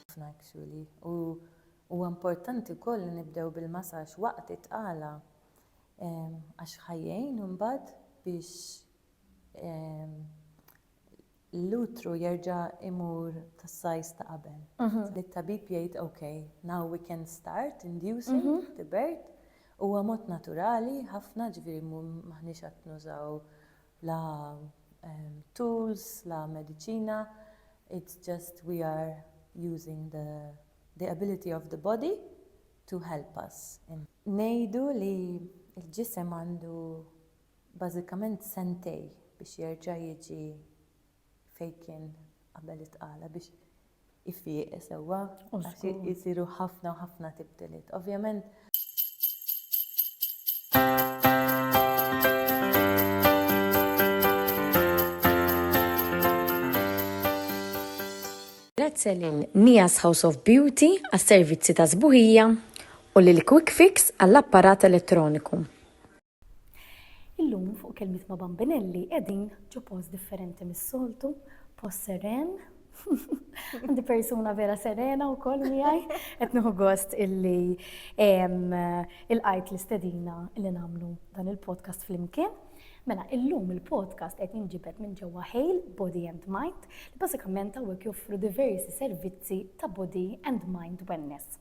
ħafna actually u huwa importanti wkoll li nibdew bil-masaġġ waqt it-tqala għax ħa jgħin imbagħad biex l-utru jerġa' jmur tas-size ta' qabel. Li t-tabib jgħid ok, now we can start inducing the birth. Huwa mod naturali ħafna ġifieri m'aħniex qed nużaw la tools, la mediċina, It's just we are using the the ability of the body to help us in. Ngħidu li l-ġisem għandu bażikament sentej biex jerġa' jiġi fejn kien qabel it-tqala, biex ifieq sewwa għax isiru ħafna u ħafna tibdiliet. Ovvjament. Grazzi lil Nia's House of Beauty għas-servizzi ta' sbuħija u lil Quick Fix għall-apparat elettroniku. Illum fuq kelmiet ma' bambinelli qegħdin ġo post differenti mis-soltu, post seren, Għandi persuna vera serena u koll miħaj, etnuħu gost illi il-għajt l-istedina illi namlu dan il-podcast fl-imkien. Mela, illum il-podcast qed jinġibet minn ġewwa Hale Body and Mind li bażikament hawnhekk joffru diversi servizzi ta' body and mind wellness.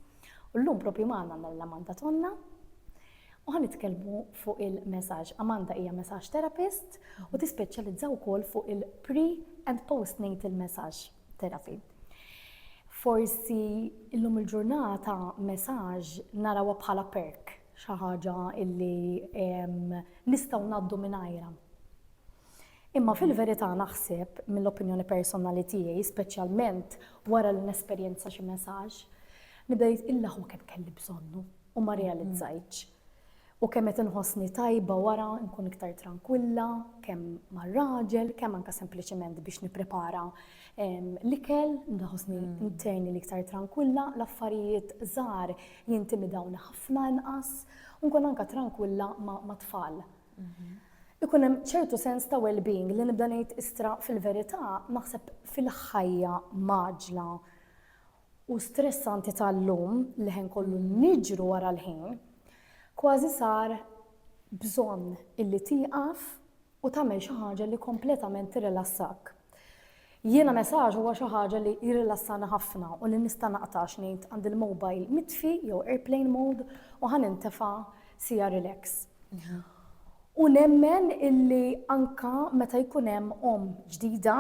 U llum propju magħna għandna lil Amanda Tonna u ħa nitkellmu fuq il-messaġġ. Amanda hija messaġġ therapist u tispeċjalizza wkoll fuq il-pre and postnatal messaġġ therapy. Forsi illum il-ġurnata messaġġ narawha bħala perk xi ħaġa illi nistgħu ngħaddu mingħajrha. Imma fil-verità naħseb, mill-opinjoni personali tiegħi, speċjalment wara li nesperjenza xi messaġġ, nibda ngħid illa hu kemm kelli bżonnu u ma rrealizzajtx. U kemm qed inħossni tajba wara nkun iktar trankwilla, kemm mar-raġel, kemm anke sempliċement biex nipprepara ehm, l-ikel, ndaħosni mm. interni li iktar trankwilla, l-affarijiet żgħar jintimidawni ħafna inqas, u nkun anke trankwilla ma' tfal. Ma ikun hemm ċertu sens ta' well-being li nibda ngħid istra fil-verità naħseb fil-ħajja maġla u stressanti tal-lum li ħin kollu niġru wara l-ħin, kważi sar bżonn illi tieqaf u tagħmel xi ħaġa li kompletament tirrilassak. Jiena messaġ huwa xi ħaġa li jirrilassani ħafna u li nista' naqta' għax ngħid għandi l-mobile mitfi jew airplane mode u ħa nintefa' siegħa relax. U nemmen illi anke meta jkun hemm omm ġdida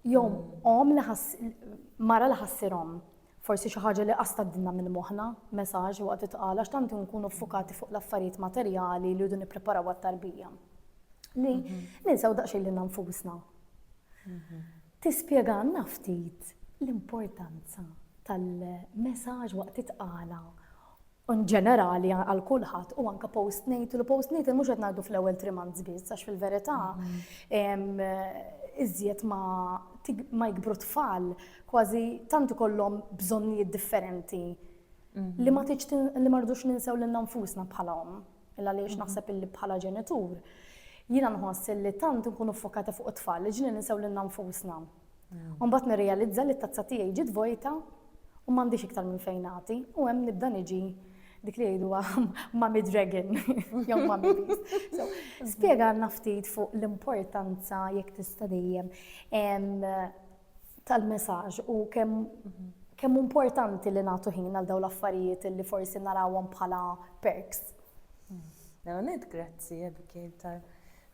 jew omm li ħa ssir mara li ħa ssir omm, forsi xi ħaġa li qas tgħaddilna minn moħħna messaġ waqt it-tqal għax tant inkunu ffukati fuq l-affarijiet materjali li rridu nippreparaw għat-tarbija li ninsew daqsxejn lilna nfusna. Tispjegalna ftit l-importanza tal-messaġġ waqt it-tqala in ġenerali għal kulħadd u anke postnatal u postnatal mhux qed ngħidu fl-ewwel three months biss għax fil-verità iżjed ma ma jikbru tfal kważi tant ikollhom bżonnijiet differenti li ma tiġ li ma rridux ninsew lilna nfusna bħala omm. Il għaliex naħseb illi bħala ġenitur, jiena nħoss illi tant nkunu ffokati fuq it-tfal li ġili ninsew lilna nfusna. Mm. U mbagħad nirrealizza li t-tazza tiegħi ġiet vojta u m'għandix iktar minn fejn nagħti u hemm nibda niġi dik li jgħidu Mami Dragon, jew Mami Beast. So, spiega naftit fuq l-importanza jekk tista' dejjem tal-messaġġ u kemm kemm importanti li nagħtu ħin għal dawn l-affarijiet li forsi narawhom bħala perks. Nanet, mm. grazzi Abigail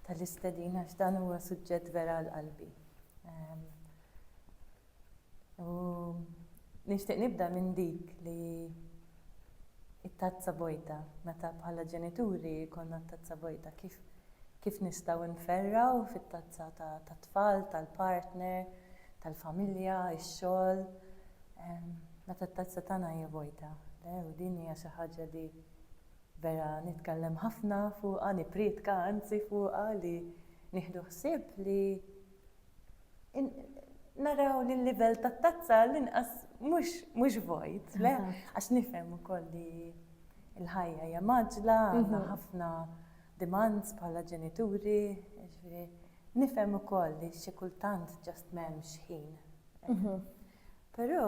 tal-istedina x'dan huwa suġġett vera għal qalbi. Ehm, u nixtieq nibda minn dik li it-tazza bojda, meta bħala ġenituri jkollna t-tazza bojda, kif kif nistgħu nferrgħu fit-tazza ta' tat-tfal, tal-partner, tal-familja, ix-xogħol, meta t-tazza tagħna hija bojda. Le, u din hija xi ħaġa li vera nitkellem ħafna fuqha, nipprietka anzi fuqha li nieħdu ħsieb li naraw li l-livell ta' tazza l-inqas mhux vojt, le? Għax nifhem ukoll li l-ħajja hija maġla, għandna mhm. ħafna demands bħala ġenituri, ġifieri nifhem ukoll li xi kultant ġast m'hemmx ħin. Mhm. Però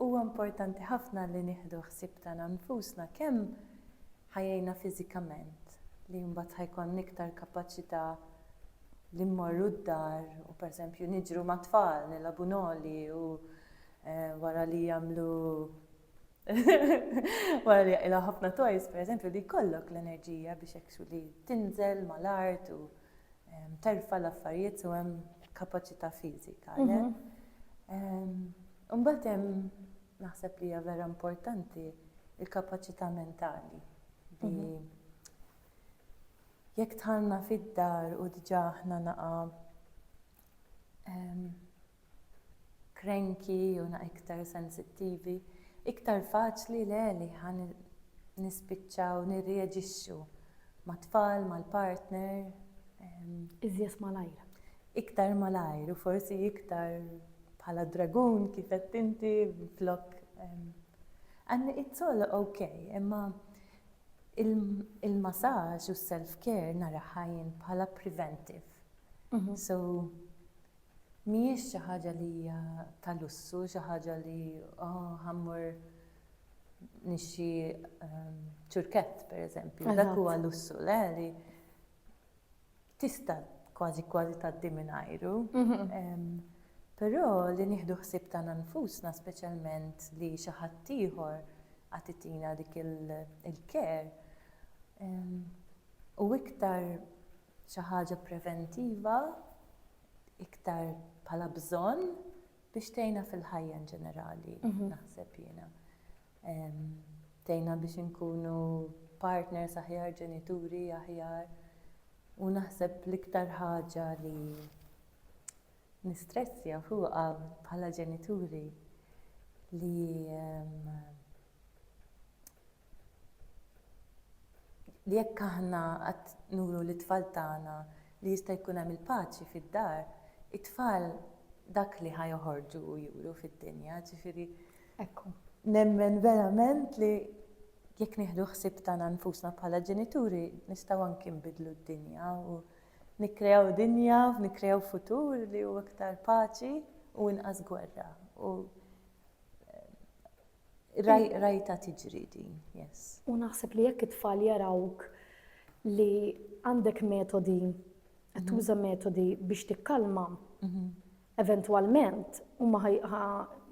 huwa importanti ħafna li nieħdu ħsieb tagħna nfusna kemm ħa jgħinna fiżikament, li mbagħad ħa jkollna iktar kapaċità li mmorru d-dar u pereżempju niġru mat-tfal, nilagħbu noli u wara li jagħmlu wara li jaqilgħu ħafna toys pereżempju li jkollok l-enerġija biex hekk xogħol li tinżel mal-art u terfa' l-affarijiet u hemm kapaċità fiżika. Imbagħad hemm Naħseb li hija vera importanti l-kapaċità mentali li jekk dħalna fid-dar u diġà aħna naqa' cranky jew naqa' iktar sensittivi, iktar faċli le li ħa nispiċċaw nirreaġixxu mat-tfal, mal-partner. Iżjed malajr. iktar malajr u forsi iktar bħala dragun kif għedt inti flok and it's all ok imma il-massage u s-self care naraha jien bħala preventive so mhijiex xi ħaġa li hija ta' lussu xi ħaġa li oh ħa mmur nixtri ċurkett pereżempju dak huwa lussu le li tista' kważi kważi tgħaddi mingħajru. Però li nieħdu ħsieb tagħna nfusna speċjalment li xi ħadd ieħor għad itina dik il-care hu iktar xi ħaġa preventiva, iktar bħala bżonn biex tgħinha fil-ħajja inġenerali naħseb jiena. Tgħinna biex inkunu partners aħjar, ġenituri aħjar u naħseb l-iktar ħaġa li nistressja fuqha bħala ġenituri li li jekk aħna qatt nuru lit-tfal tagħna li jista' jkun hemm il-paċi fid-dar, it-tfal dak li ħa joħorġu u juru fid-dinja, ġifieri Hekk hu. Nemmen verament li jekk nieħdu ħsieb tagħna nfusna bħala ġenituri nistgħu anki nbiddlu d-dinja u nikkreaw dinja, nikkreaw futur li hu iktar paċi u inqas gwerra. U rajta tiġri din, yes. U naħseb li jekk it-tfal jarawk li għandek metodi, qed tuża metodi biex tikkalma, eventwalment huma ħa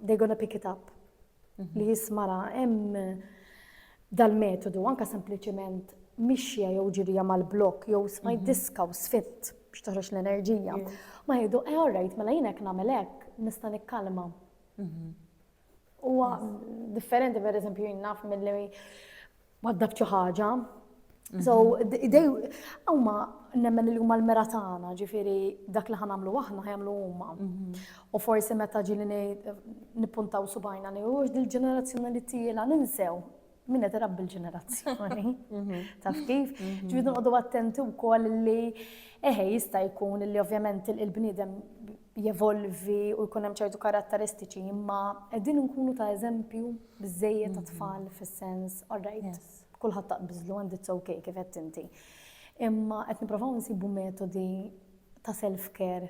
they're gonna pick it up. Mhm. Li jismara hemm dal-metodu anka sempliċement mixja jew ġirija mal-blok jew smajt mhm. diska u sfitt biex toħroġ l-enerġija. Ma jgħidu, eh, all right, mela jien hekk nagħmel hekk, nista' nikkalma. Mhm. Huwa differenti per eżempju jinnaf mill-li waddab xi ħaġa. So, mhm. idej, huma nemmen li huma l-mera tagħna, ġifieri dak li ħanamlu aħna ħajamlu huma. Mhm. U forsi meta ġili nippuntaw subajna li hux dil-ġenerazzjoni li tiela ninsew Min qed irabbi l-ġenerazzjoni. Mhm. Taf kif? Mhm. Ġifieri noqogħdu attenti wkoll li eħe jista' jkun li ovvjament il-bniedem jevolvi u jkun hemm ċertu karatteristiċi, imma qegħdin nkunu ta' eżempju biżejjed ta' mhm. tfal fis-sens, all right, kulħadd taqbiżlu and it's okay kif qed inti. Imma qed nipprovaw nsibu metodi ta' self-care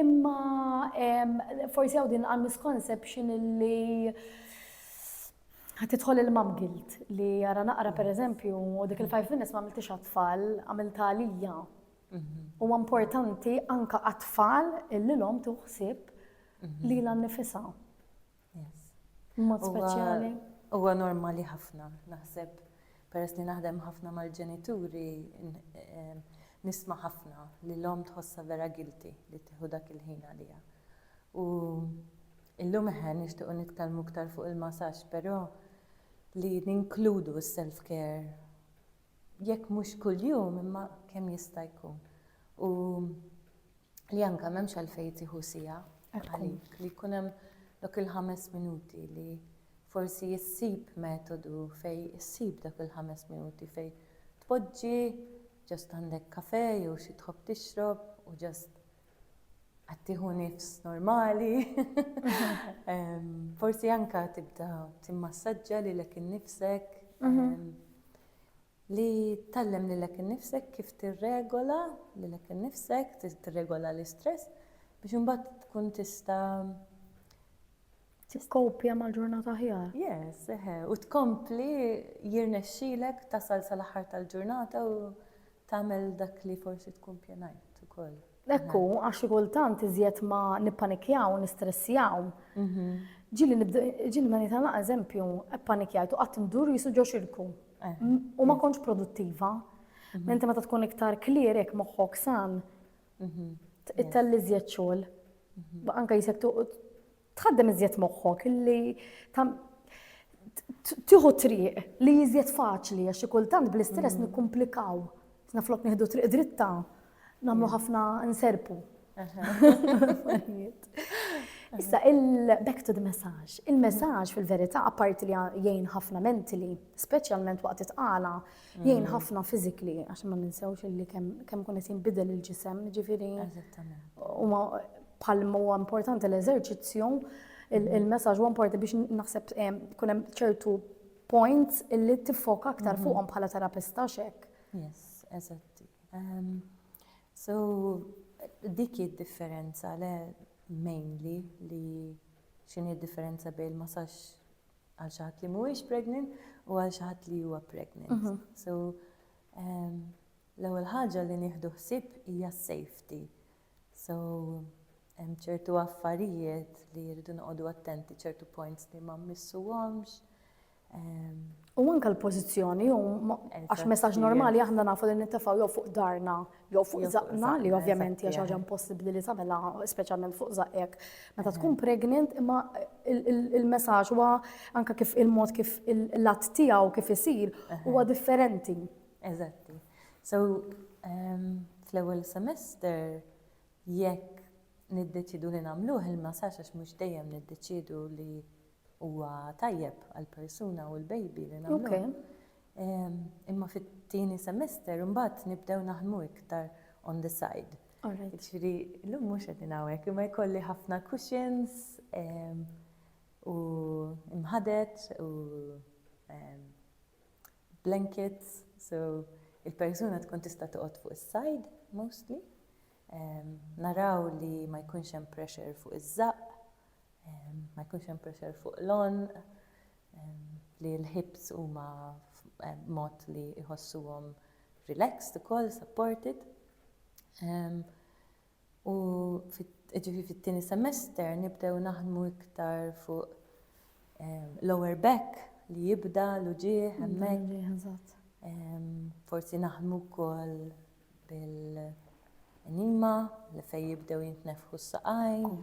Imma forsi hawn din għal misconception li ħat tidħol il-mam guilt li jara naqra per eżempju dik il-five minutes ma għamiltix għat-tfal, għamilta għalija. Mhm. U importanti anka għat-tfal illi l-om tuħsib mhm. li l-nifisa. Mod speċjali. Huwa normali ħafna, naħseb peress li naħdem ħafna mal-ġenituri nisma' ħafna li l-omm tħossha vera guilty li tieħu dak il-ħin għaliha. U illum eħe nixtiequ nitkellmu iktar fuq il-masaġġ, però li ninkludu s-self care jekk mhux kuljum imma kemm jista' jkun. U li anke m'hemmx għalfejn tieħu siegħa għalik, li jkun hemm dak il-ħames minuti li forsi ssib metodu fejn issib dak il-ħames minuti fejn tpoġġi, ġast għandek kafè jew xi tħobb tixrob u ġast għattieħu nifs normali, forsi anka tibda timmassaġġa li lek innifsek, mhm. li tallem li lek innifsek kif tirregola li lek innifsek, tirregola l-istress, biex imbagħad tkun tista' Tikkopja mal-ġurnata aħjar. Yes, eħe, u tkompli jirnexxilek tasal sal-aħħar tal-ġurnata u tagħmel dak li forsi tkun pjanajt ukoll. Ekku, għax xi kultant iżjed ma nippanikjaw, nistressjaw. Ġili nibda, ġili ma nitala eżempju, ppanikjajt u qatt ndur jisu ġo xirku. U ma kontx produttiva. Menti meta tkun iktar clear hekk moħħok san, ittelli iżjed xogħol. Anke jisek Tħaddem iżjed moħħok li tieħu triq li iżjed faċli għax xi kultant bl-istress mm. nikkumplikaw. Sna flok nieħdu triq dritta, nagħmlu mm. ħafna nserpu. Issa, il-back to the message. Il-message fil-verità, apparti li jgħin ħafna mentili, speċjalment waqt it-tqala, Jgħin ħafna fizikli, għax ma ninsewx illi kemm kun qed jinbidel il-ġisem, ġifieri. Huma palmu huwa importanti l-eżerċizzju, il-messaġġ huwa importanti biex naħseb eh, kun hemm ċertu points illi tiffoka aktar mhm. fuqhom bħala terapista xek. Yes, eżatti. Ehm, so, dik id-differenza le mainly li xini differenza bejn il-massaġġ għal xi ħadd li mhuwiex pregnant u għal xi ħadd li huwa pregnant. Mhm. So ehm, l-ewwel ħaġa li nieħdu ħsieb hija safety. So hemm ċertu affarijiet li jridu noqogħdu attenti ċertu points li ma missuhomx. Ehm, u anke l-pożizzjoni għax messaġġ normali aħna nafu li nittefgħu jew fuq darna jew fuq żaqqna li ovvjament hija xi ħaġa impossibbli li tagħmilha speċjalment fuq żaqqek meta tkun pregnant imma il-messaġġ huwa anke kif il-mod kif il-lat tiegħu kif isir huwa differenti. Eżatti. So ehm, fl-ewwel semester jekk niddeċidu li nagħmluh il-massaġġ għax mhux dejjem niddeċidu li huwa tajjeb għall-persuna u l-baby li nagħmluh. Imma fit-tieni semester imbagħad nibdew naħdmu iktar on the side. Jiġifieri llum mhux qegħdin hawnhekk, imma jkolli ħafna cushions u mħadet u blankets, so il-persuna tkun tista' toqgħod fuq is-side mostly. Naraw li ma jkunx hemm pressure fuq iż-żaqq, ma jkunx hemm pressure fuq l-għonq. li l-hips huma mod li jħossuhom relaxed ukoll, supported. U ġifi fit-tieni semester nibdew naħdmu iktar fuq ehm, lower back li jibda l-uġieħ hemmhekk. Forsi naħdmu wkoll bil-qnima li fejn jibdew jintnefħu s-saqajn,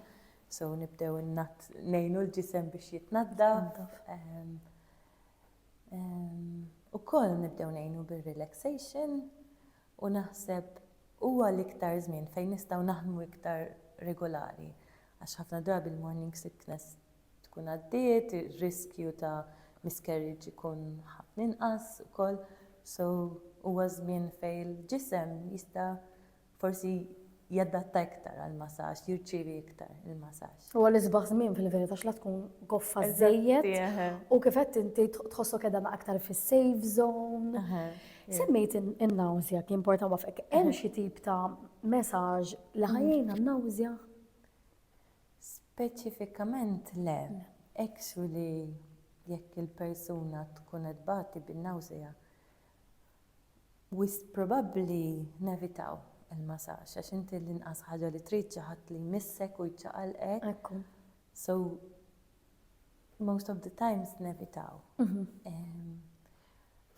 so nibdew ngħinu l-ġisem biex jitnaddaf. Ukoll nibdew ngħinu bir-relaxation u naħseb huwa l-iktar żmien fejn nistgħu naħdmu iktar regolari għax ħafna drabi l-morning sickness tkun għaddiet, ir-riskju ta' miscarriage ikun ħafna inqas ukoll. So huwa żmien fejn il-ġisem jista' forsi jadatta iktar għall-masaġġ, jirċievi iktar il-masaġġ. Huwa l-isbaħ żmien fil-verità għax la tkun goffa żżejjed u kif għedt inti tħossok qiegħda aktar fis-safe zone. Semmejt in-nawżja kien important waqfek. Hemm xi tip ta' masaġġ li ħajjejna n-nawżja? Speċifikament le, ekx li jekk il-persuna tkun qed tbati bin-nawsea, wisq probabbli nevitaw il-masaġġ għax inti l-inqas ħaġa li trid xi ħadd li jmissek u jċaqalqek, so most of the times nevitaw.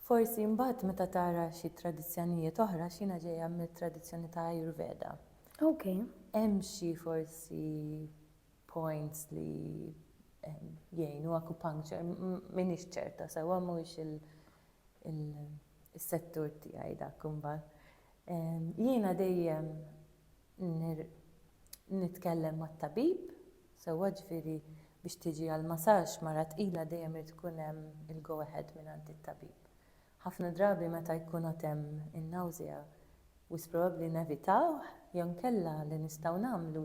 Forsi mbagħad meta tara xi tradizzjonijiet oħra għax jiena ġejja mit-tradizzjoni ta' Ayurveda. Okay. Hemm xi forsi points li ehm, jgħinu acupuncture, m'iniex ċerta sewwa mhuwiex il- il-settur tiegħi dak imbagħad. Jiena dejjem Nitkellem mat-tabib, sewwa ġifieri biex tiġi għal masaġġ mara tqila dejjem irid ikun hemm il-go ahead mingħand it-tabib. Ħafna drabi meta jkun għad hemm in-nawżea wisq probabbli nevitawh jew inkella li nistgħu nagħmlu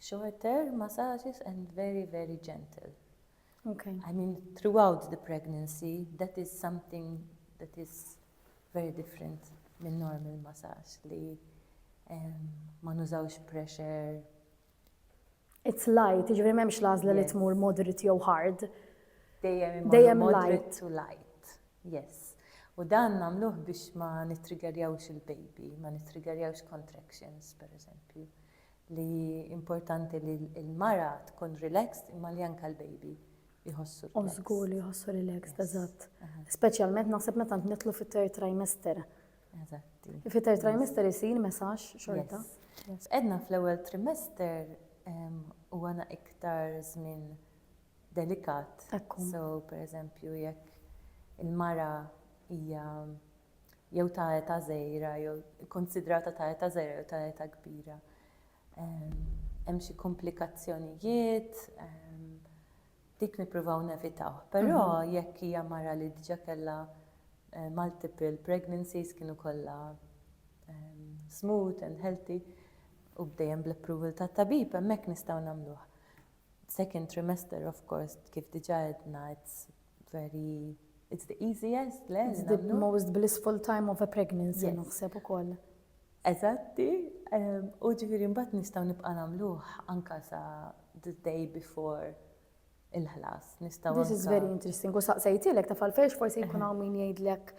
shorter massages and very very gentle. Okay. I mean, throughout the pregnancy, that is something that is very different minn normal massage li um, ma nużawx pressure. It's light, ġivri memx lazla li tmur moderate jew hard. Dejjem light. to light, yes. U dan namluħ biex ma nitrigerjawx il-baby, ma nitrigerjawx contractions, per eżempju. li hi importanti li l-mara tkun relaxed imma li anke l-baby jħossu relaxed. U żgur li jħossu relaxed, eżatt. Speċjalment naħseb meta nitlu fit-third trimester. Eżatt. Fit-third trimester isir messaġġ xorta. Edna fl-ewwel trimester huwa na iktar żmien delikat. Ekku. So, pereżempju, jekk il-mara hija jew ta' età żgħira jew ikkunsidrata ta' età żgħira jew ta' età kbira. Hemm xi komplikazzjonijiet, dik nippruvaw nevitaw. Però mhm. jekk hija mara li diġà kellha eh, multiple pregnancies kienu kollha ehm, smooth and healthy u bdejjem bl-approval ta' tabib hemmhekk nistgħu nagħmluh. Second trimester of course kif diġa għedna it's very it's the easiest le? It's the most blissful time of a pregnancy naħseb ukoll. Eżatti, u ġifieri mbagħad nistgħu nibqa' nagħmluh anka sa the day before il-ħlas. Nistgħu This is very interesting. U saqsejtilek taf għalfejn forsi jkun hawn min jgħidlek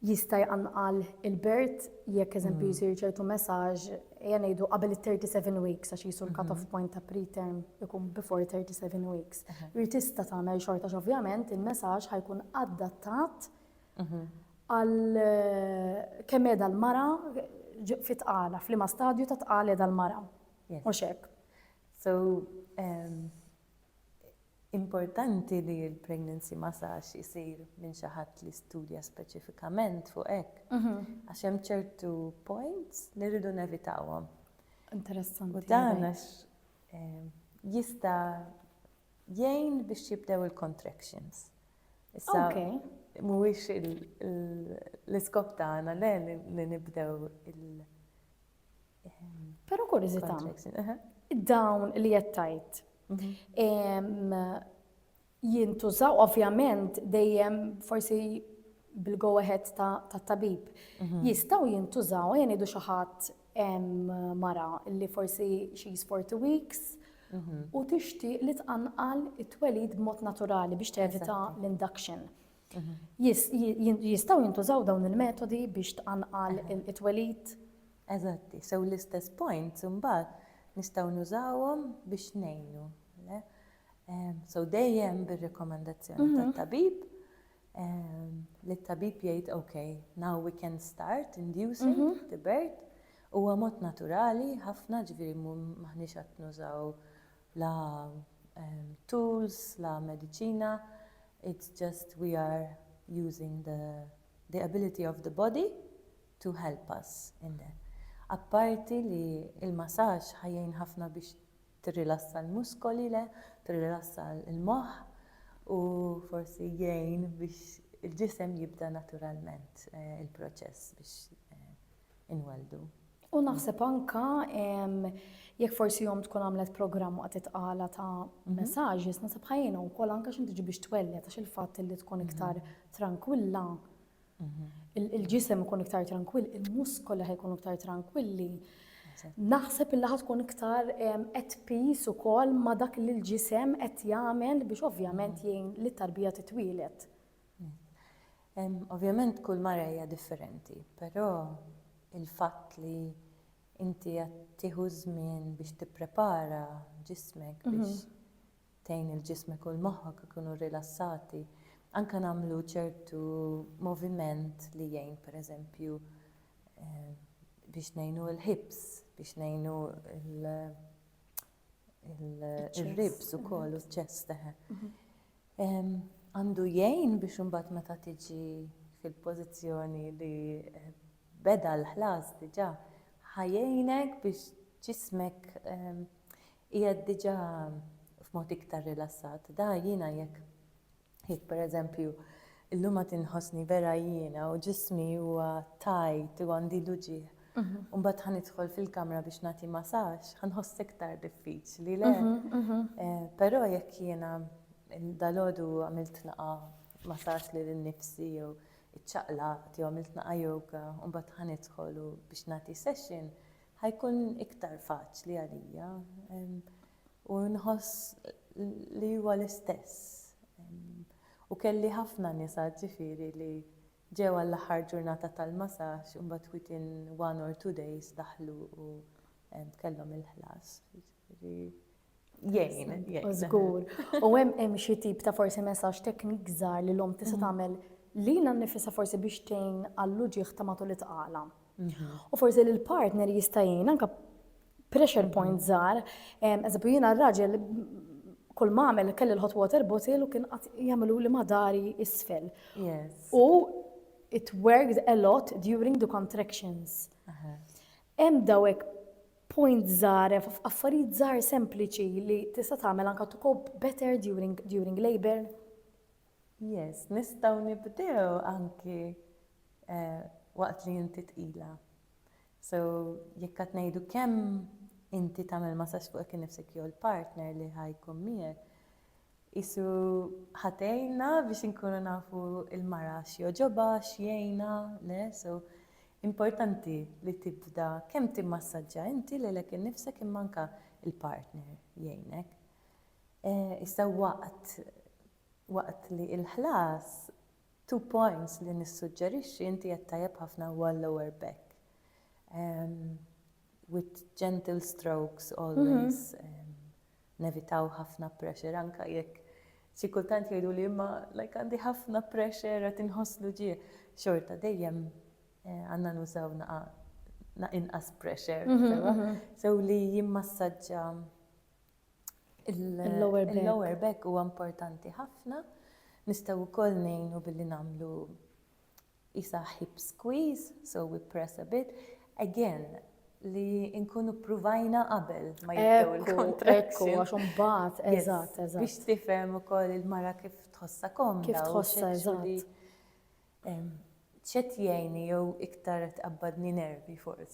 Jista' jqanqal il-birth jekk eżempju jsir ċertu messaġġ, ejja ngħidu qabel it-37 weeks għax qisu l-cut off point ta' preterm ikun before 37 weeks. Hi tista' tagħmel xorta għax ovvjament il-messaġġ ħa jkun adattat għal kemm qiegħda l-mara fi tqala, f'liema stadju ta' tqal qiegħda l-mara. Mhux hekk? So, Importanti li l-pregnancy massage isir minn xi ħadd li studja speċifikament fuq hekk għax hemm ċertu points li rridu nevitawhom. Interessanti. U dan għax eh, jista' jgħin biex jibdew il-contractions. Issa, mhuwiex l-iskop tagħna le li nibdew il- Però kurżità, dawn li qed tgħid jintużaw ovvjament dejjem forsi bil-go ahead tat-tabib. Jistgħu jintużaw, ejja ngħidu xi ħadd mara li forsi she is 40 weeks u tixtieq li tqanqal it-twelid b'mod naturali biex tevita l-induction. Jistgħu jintużaw dawn il-metodi biex tqanqal it-twelid? Eżatti, sew l-istess points imbagħad nistgħu nużawhom biex ngħinu. Le? Ehm, so dejjem bir-rekomendazzjoni mhm. tat-tabib ehm, li t-tabib jgħid ok, now we can start inducing mm -hmm. the birth. Huwa mod naturali ħafna ġifieri maħniex qed nużaw la um, tools, la medicina, it's just we are using the, the ability of the body to help us in the Apparti li l-masaġġ ħa jgħin ħafna biex tirrilassa l-muskoli le tirrilassa l-moħħ u forsi jgħin biex il-ġisem jibda naturalment il-proċess biex inwelldu. U naħseb anka jekk forsi jom tkun għamlet programm waqt it-tqala ta' mhm. messages, nasab ħajjina u kol anka xinti biex twellet għax il-fat li tkun mhm. iktar tranquilla. il-ġisem ikun iktar tranquill, il-muskoli ħajkunu iktar tranquilli. Naħseb il ħad tkun iktar at peace u kol ma dak li l-ġisem qed jagħmel biex ovvjament jgħin li tarbija titwilet. Ovvjament kull marajja differenti, però il-fatt li inti qed tieħu żmien biex tipprepara ġismek biex tgħin lil ġismek u lil moħħok ikunu rilassati, anke nagħmlu ċertu moviment li jgħin pereżempju biex ngħinu l-hips, biex ngħinu l-ribs ukoll u ċ-chest. Għandu jgħin biex imbagħad meta tiġi fil-pożizzjoni li beda l-ħlas diġà, ħa jgħinek biex ġismek Qiegħed diġà f'mod iktar rilassat. Da jiena jekk, jekk pereżempju llum għad inħossni vera jiena u ġismi huwa tight u għandi l-uġigħ, u mbagħad ħa nidħol fil-kamra biex nagħti masaġġ, ħa nħoss iktar diffiċli, le? Però jekk jiena dalgħodu għamilt laqgħa masaġġ lil innifsi jew iċċaqlaqt jew għamilt laqgħa yoga u mbagħad ħa nidħol u biex nagħti session, ħa jkun iktar faċli għalija u nħoss li huwa l-istess. U kelli ħafna nisa ġifieri li ġew għall-aħħar ġurnata tal-masaġġ u mbagħad within one or two days daħlu u kellhom il-ħlas. Jgħin, jgħin. Żgur. U hemm hemm xi tip ta' forsi messaġġ teknik żgħar li l-om tista' mm-hmm. tagħmel lilha nnifisha forsi biex tgħin għall-uġieħ ta' matul it-tqala. Mm-hmm. U forsi li l-partner jista' jgħin anke pressure point mm-hmm. żgħar, eżempju jiena r-raġel kull ma għamel kelli l-hot water bottle u kien qatt jagħmlu li madari isfel. U it worked a lot during the contractions. Hemm dawek point żgħar hemm affarijiet żgħar sempliċi li tista' tagħmel anke to cope better during during labour? Yes, nistgħu nibdew anki waqt li inti tqila. So jekk qed ngħidu kemm inti tagħmel masaġġ fuqek innifsek jew il-partner li ħa jkun miegħek, Qisu ħa tgħinna biex inkunu nafu l-mara x'jogħġobha, x'jgħinha, le? So, importanti li tibda kemm timmassaġġa inti lilek innifsek imma anke l-partner jgħinek. Issa waqt waqt li l-ħlas, two points li nissuġġerixxi inti qed tajjeb ħafna huwa l-lower back. With gentle strokes always. Nevitaw ħafna pressure anke jekk xi kultant jgħiduli imma like għandi ħafna pressure qed inħoss l-uġigħ. Xorta dejjem għandna nużaw naqgħa inqas pressure sewa. Sew li jimmassaġġa il-lower back huwa importanti ħafna. Nistgħu wkoll ngħinu billi nagħmlu qisha hip squeeze, so we press a bit, again li nkunu ppruvajna qabel ma jibdew il-contractions. Ekku, għax imbagħad, eżatt, eżatt. Biex tifhem ukoll il-mara kif tħossha komda. Kif tħossha eżatt. X'qed jgħinni jew iktar qed tqabbadni nervi forsi.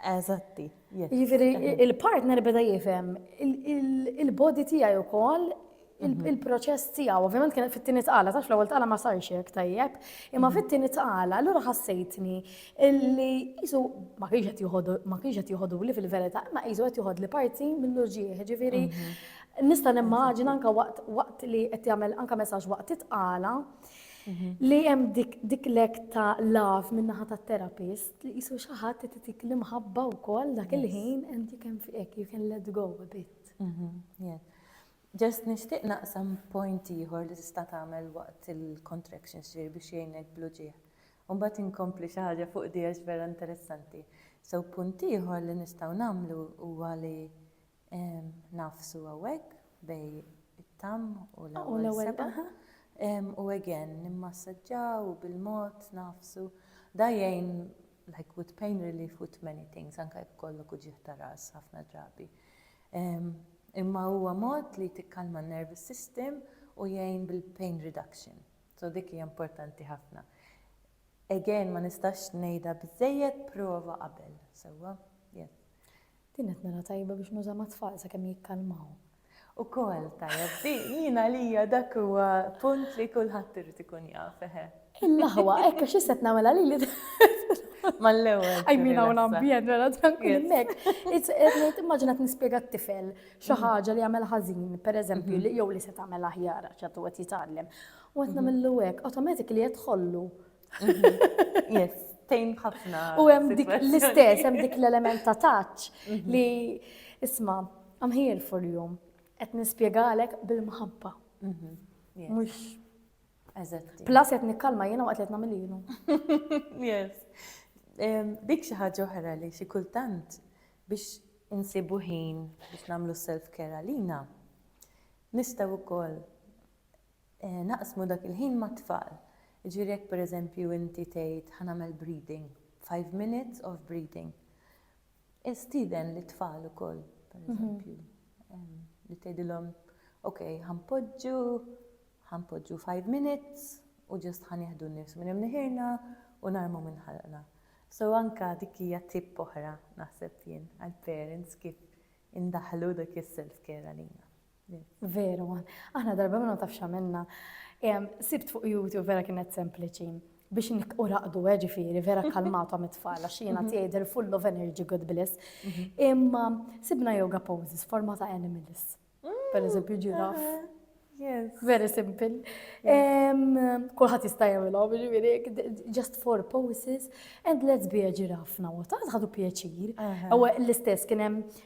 Eżatti. Jiġifieri il-partner beda jifhem il-body tiegħi wkoll mhm. il-proċess tiegħu. Ovvjament kien fit-tieni tqala, taf l-ewwel tqala ma sarx hekk tajjeb, imma mhm. fit-tieni tqala allura ħassejtni li qisu ma kienx qed joħodu ma kienx qed joħodu li fil-verità, imma qisu qed joħodli parti mill-uġieħ, ġifieri mhm. nista' nimmaġina anke waqt li qed jagħmel anke messaġġ waqt titqala li hemm dik lek ta' laf min-naħa tat-terapist Tqisu xi ħadd qed itik l-imħabba wkoll dak il-ħin and you can hekk you can let go a bit. Just nixtieq naqsam point ieħor li tista' tagħmel waqt il-contractions ġifieri biex jgħinek bl-uġigħ. U mbagħad inkompli xi ħaġa fuq di għax vera interessanti. So punt ieħor li nistgħu nagħmlu huwa li Ngħafsu hawnhekk bejn it-tamm u l-ewwel sebgħa. U again, nimmassaġġaw u bil-mod ngħafsu. Da jgħin like with pain relief with many things, anke jekk ikollok uġigħ ta' ras ħafna drabi. Imma huwa mod li tikkalma n-nervous system u jgħin bil-pain reduction. So dik hija importanti ħafna. Again, ma nistax ngħidha biżżejjed prova qabel, sewwa? Yes. Kienet mela tajba biex nuża mat-tfal sakemm jikkalmaw. Ukoll tajjeb di, jien għalija dak huwa punt li kulħadd irid ikun jaf, eħe. Il-laħwa, hekk għax issa qed nagħmilha lili. Mal-ewwel. I mean hawn ambjent mela tranquil hemmhekk. Qed immaġina nispjega t-tifel xi ħaġa li jagħmel ħażin, pereżempju, jew li se tagħmel aħjar għax għadu qed jitgħallem. U qed nagħmillu hekk, automatically qed tħollu Mhm. Yes, tejn ħafna. U hemm dik l-istess, hemm dik l-element ta' taċ mhm. li isma' I'm here for you. Qed nispjegalek bil-mħabba. Mhm. Mhux Eżatti. Plus qed nikkalma jiena waqt li qed nagħmel jienu. Yes. Dik xi ħaġa oħra li xi kultant biex insibu ħin biex nagħmlu self-care għalina. Nistgħu wkoll naqsmu dak il-ħin mat-tfal. Jiġifieri jekk pereżempju inti tgħid ħa nagħmel breathing, five minutes of breathing, stieden lit-tfal ukoll pereżempju li tgħidilhom ok ħa npoġġu, ħa npoġġu five minutes u ġust ħa nieħdu n-nifs minn imniħirna u narmu minn ħalqna. So anka dik hija tip oħra naħseb jien għall-parents kif indaħħlu dak is-self care għalina. Veru, aħna darba minna taf xamilna. Sibt fuq YouTube vera kienet sempliċi biex u raqdu eh, ġifiri, vera kalmatu għam it-tfal, għax jena mhm. tijaj full of energy, good bliss. Mhm. Imma sibna yoga poses, forma ta' animals. Mm. Per eżempju, ġiraf. Very simple. Kulħat jista' jagħmilhom, ġifieri, just four poses and let's be a giraffe now. Ta' ħadu pjaċir. Ewa l-istess kien hemm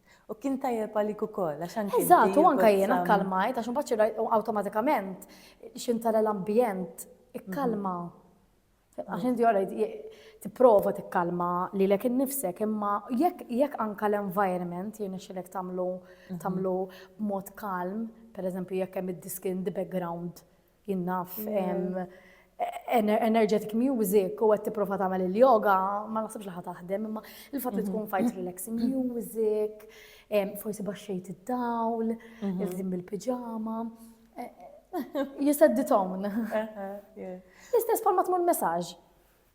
U kien tajjeb għalik ukoll, għax anke. Eżatt, u anke jiena kkalmajt, għax imbagħad xi awtomatikament xintara l-ambjent ikkalma. Mhm. Għax inti għalajt tipprova tikkalma li lek innifsek, imma jekk anka l-environment jien xilek tamlu mhm. tamlu mod kalm, per eżempju jekk hemm id-diskin the background Jien naf energetic music u qed tipprova tagħmel il-yoga, ma naħsibx li ħa taħdem, imma il-fatt li mhm. tkun fajt relaxing music, forsi baxxejt id-dawl, mhm. il-żim bil-pijama. Eh, eh, you set the tone. Eh, L-istess bħal ma tmur messaġġ.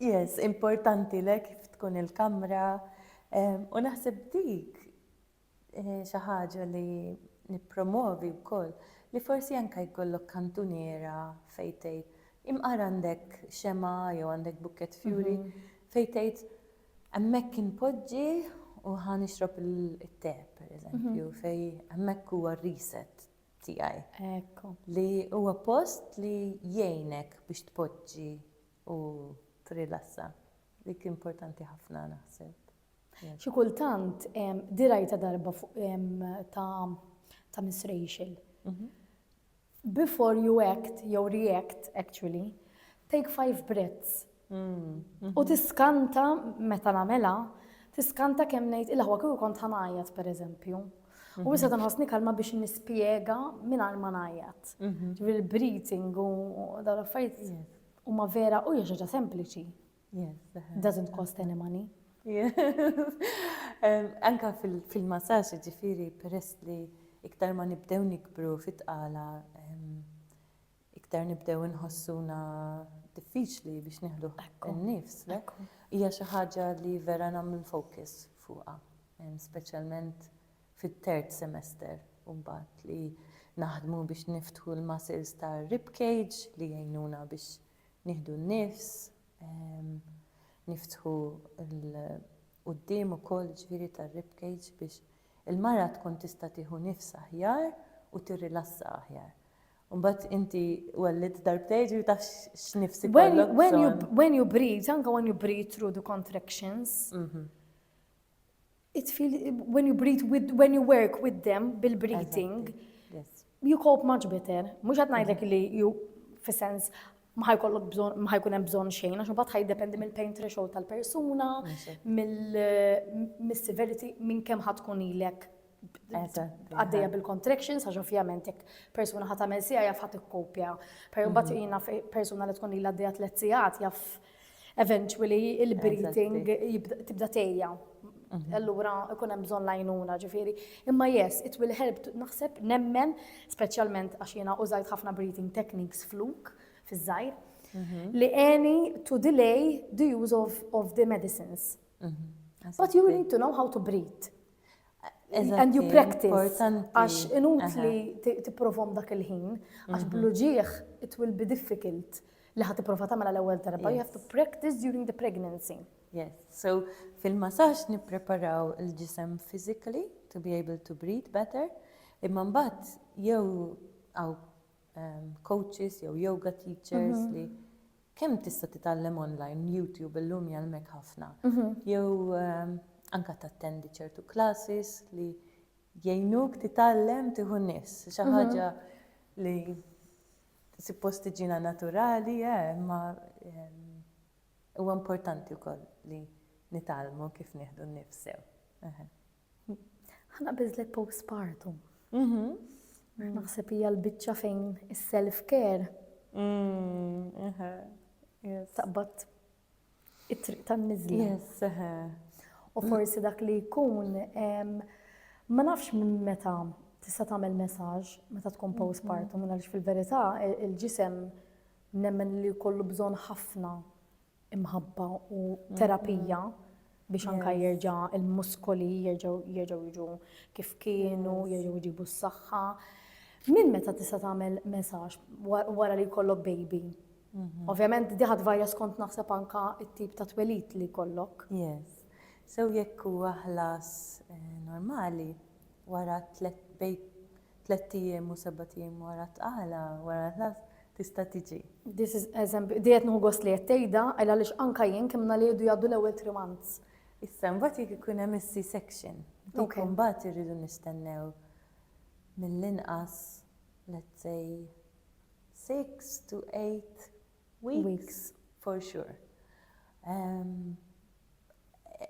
Yes, importanti lek kif tkun il-kamra. U naħseb dik xi ħaġa li nippromwovi wkoll li forsi anke jkollok kantuniera fejn tgħid, imqar għandek xemgħa jew għandek bukkett fjuri fejn tgħid hemmhekk inpoġġi u ħa nixrob it-te, pereżempju, fejn hemmhekk huwa r-reset tiegħi. Ekku. Li huwa post li jgħinek biex tpoġġi u tirrilassa. Dik importanti ħafna naħseb. Xi kultant, dirajta darba ta' Miss Rachel. Mhm. Before you act, jew react, actually, take five breaths. Mm, mhm. U tiskanta, meta namela, tiskanta kemm ngħid il-ħwa kieku kont ħanajat, per eżempju. U mhm. issa tanħosni kalma biex nispjega minn ma najat. Ġifieri il-breathing u dawn l-affarijiet huma vera u hija sempliċi. Doesn't cost any money. Anka fil-massaġġ ġifieri peress li iktar ma nibdew nikbru fit-tqala iktar nibdew inħossuna diffiċli biex nieħdu n-nifs. Hija xi ħaġa li vera nagħmel focus fuqha, speċjalment fit-third semester u mbagħad li naħdmu biex niftħu l-muscles tar-rib cage li jgħinuna biex nieħdu n-nifs, niftħu l-quddiem ukoll jiġifieri tar-rib cage biex il-mara tkun tista' tieħu nifs aħjar u tirrilassa aħjar. Mbagħad inti wellidt darbtejn ġifieri taf x'nifs ikollok. When you breathe, anke when you breathe through the contractions, mhm. It feel when you breathe with, when you work with them bil-breathing, you cope much better. Mux għat najdlek mhm. li you, fi sens, maħaj kollok bżon, maħaj kunem bżon xejn, għax bat ħaj dependi mill-pain threshold tal-persuna, mill-severity, minn kem ħatkun ilek għaddeja bil-contractions, għax ovvjament jek persuna ħat għamil sija jaf ħat ikkopja. Per bat mhm. jina persuna li tkun illa għaddeja tlet sijat jaf eventually il-breathing tibda tejja. Mhm. Allura ikun hemm bżonn lajnuna ġifieri. Imma yes, it will help naħseb nemmen speċjalment għax jiena użajt ħafna breathing techniques fluk fiż-żgħir mhm. li any to delay the use of, of the medicines. Mhm. But you need to know how to breathe. and you practice. Għax inut li t-provom dak il-ħin, għax mhm. bluġieħ it will be difficult li ħat t-prova tamela l-ewel darba, you have to practice during the pregnancy. Yes, so fil-massaġġ nippreparaw il-ġisem physically to be able to breathe better, imma mbagħad jew għaw coaches jew yoga teachers li kemm tista' titgħallem online, YouTube illum jgħallmek ħafna. Jew anke tattendi ċertu classes li jgħinuk titgħallem tieħu nies. Xi ħaġa li suppost tiġina naturali, eh, ma huwa importanti wkoll li nitgħallmu kif nieħdu n-nifsew. Ħana biżlet postpartum. Mhm. Naħseb hija l-biċċa fejn is-self care. Mm, Taqbad it-triq tan-niżli. Yes, U forsi dak li jkun ma nafx minn meta tista' tagħmel messaġġ meta tkun mhm. postpartum għaliex fil-verità il-ġisem nemmen li kollu bżonn ħafna imħabba u terapija biex anka jerġa' il-muskoli jerġgħu jerġgħu jiġu kif kienu, jerġgħu jġibu s-saħħa. Minn meta tista' tagħmel messaġġ wara li jkollok baby? Mhm. Ovvjament diħat varja skont naħseb anka it-tip ta' twelit li kollok. Yes. So jekk huwa ħlas eh, normali wara tlet bejt Tlett ijiem u sebat ijiem wara t-tqala, wara l-ħlas, tista' tiġi. This is eżempju, di qed nieħu gost li qed tgħidha, għaliex anke jien kemm ngħaliedu jgħaddu l-ewwel three months. Issa mbagħad jekk ikun hemm is-C-section, dik imbagħad irridu nistennew mill-inqas let's say six to eight Weeks for sure.